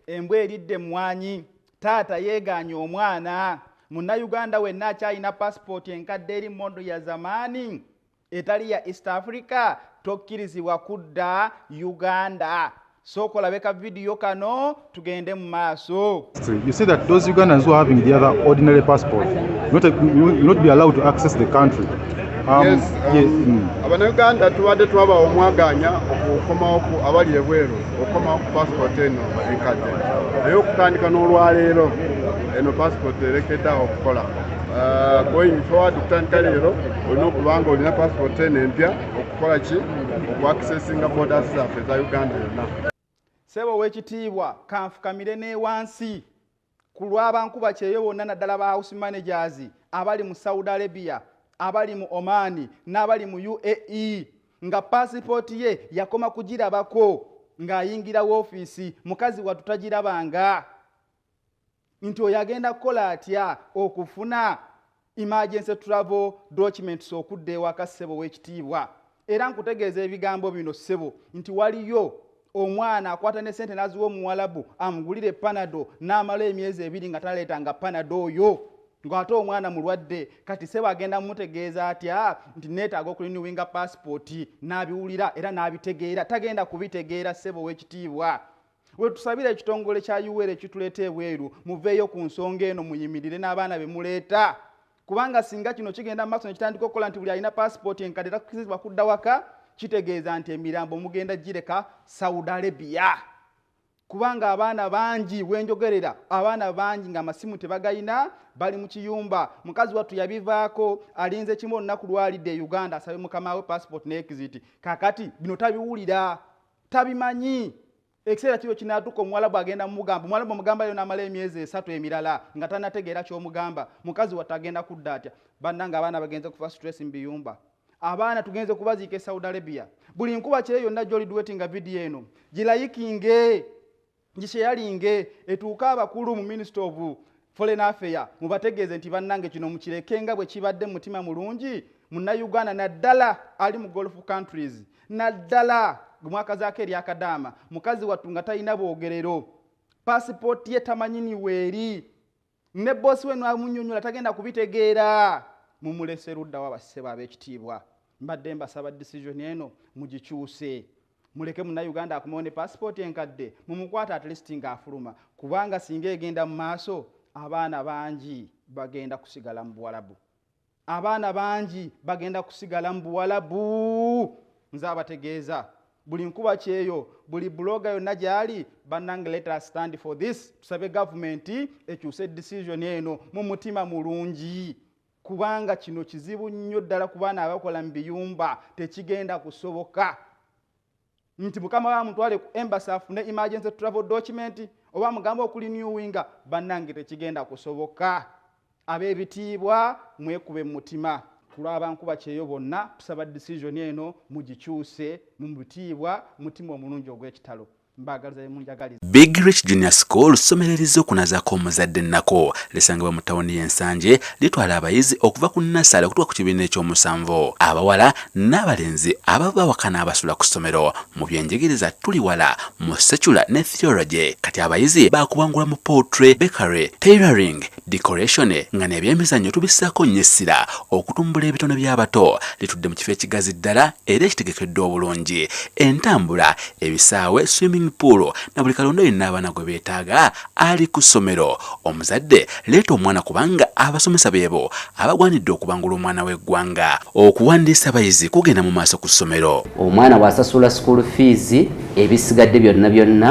embwa eridde emmwanyi taata yeegaanye omwana munnayuganda wenna akyalina pasipooti enkadde eri mondo ya zamaani etali ya east africa tokkirizibwa kudda uganda sooka olabe ka vidiyo kano tugende mu maaso you say that those ugandans who are having the other ordinary passport not, will not be allowed to access the country um, yes, um, yeah, mm. abanauganda tubadde twabawa omwaganya okukomawo ku abali ebweru okukomawo ku passport eno enkadde naye okutandika n'olwaleero eno passport erekedde awo okukola uh, going forward okutandika leero olina okuba nga olina passport eno empya okukola ki okuaccessinga borders zaffe eza uganda yonna sebo owekitiibwa kanfukamire newansi ku lwabankuba kyeyo bonna naddala ba house managers abali mu saudi arabia abali mu omani n'abali mu uae nga pasipooti ye yakoma kugirabako ng'ayingira woofiisi mukazi watutagirabanga nti oyo agenda kukola atya okufuna emergency travel documents okudda ewaka ssebo w'ekitiibwa era nkutegeeza ebigambo bino ssebo nti waliyo omwana akwata ne sente n'aziwa omuwalabu amugulire panado n'amala emyezi ebiri nga taleetanga panado oyo ng'ate omwana mulwadde kati sebo agenda mumutegeeza atya nti neetaaga okuliniwinga paasipooti n'abiwulira era n'abitegeera tagenda kubitegeera sebo ow'ekitiibwa wetusabira ekitongole kya uwere ekituleeta ebweru muveeyo ku nsonga eno muyimirire n'abaana be muleeta kubanga singa kino kigenda mu maaso nekitandika okukola nti buli alina paasipooti enkadde takkirizibwa kudda waka kitegeeza nti emirambo mugenda gireka saudi arabia kubanga abaana bangi wenjogerera abaana bangi nga amasimu tebagalina bali mu kiyumba mukazi wattu yabivaako alinze kimu olunaku lwalidde e uganda asabe mukama we paasipooti ne exit kakati bino tabiwulira tabimanyi ekiseera kiro kinatuka omuwalabu agenda mumugamba omuwalabu omugambayo namala emyezi esatu emirala nga tanategeera kyomugamba mukazi watte agenda kudda atya bannanga abaana bagenze kufa stress mu biyumba abaana tugenze kubaziika e saudi arabia buli nkuba kire yonna gyoliduwetinga vidiyo eno gilayikinge nti kyeyalinge etuuka abakulu mu minisita ovu foreign affair mubategeeze nti bannange kino mukireke nga bwe kibadde mutima mulungi munnayuganda naddala ali mu golf countries naddala mwakazaako eryakadaama mukazi wattu nga talina bwogerero pasipooti ye tamanyiniweeri ne boosi we nwamunyonyola tagenda kubitegeera mumulese luddawa bassebo ab'ekitiibwa mbadde mbasaba disisoni eno mugikyuse muleke munauganda akomawo ne pasipooti enkadde mumukwata atleast ng'afuluma kubanga singa egenda mu maaso abaana bangi bagenda kusigala mu buwalabu abaana bangi bagenda kusigala mu buwalabu nze abategeeza buli nkuba kyeyo buli buloga yonna gyali bannange let us stand for this tusabe gavumenti ekyuse decision eno mu mutima mulungi kubanga kino kizibu nnyo ddala ku baana abakola mu biyumba tekigenda kusoboka nti mukama bamutwale ku embasi afune emergency travel document oba mugambe okuli new winga bannange tekigenda kusoboka ab'ebitiibwa mwekube mu mutima kulwabankuba kyeyo bonna tusaba decision eno mugikyuse mu bitiibwa mutima omulungi ogw'ekitalo mbagaliza Big Rich Junior School ssomero erizze okunazaako omuzadde ennako lisangibwa mu tawuni y'e Nsanje litwala abayizi okuva ku nnassale okutuuka ku kibiina ekyomusanvu abawala n'abalenzi abava bawakana abasula ku ssomero mu byenjigiriza tuli wala mu secular ne theology kati abayizi baakubangula mu poultry bakery tailoring decoration nga n'ebyemizannyo tubissaako nnyo essira okutumbula ebitone by'abato litudde mu kifo ekigazi ddala era ekitegekeddwa obulungi entambula ebisaawe swimming pool na buli kalonda yenna abaana gwe beetaaga ali ku ssomero omuzadde leeta omwana kubanga abasomesa beebo abagwanidde okubangula omwana w'eggwanga okuwandiisa abayizi kugenda mu maaso ku ssomero omwana bw'asasula school fees ebisigadde byonna byonna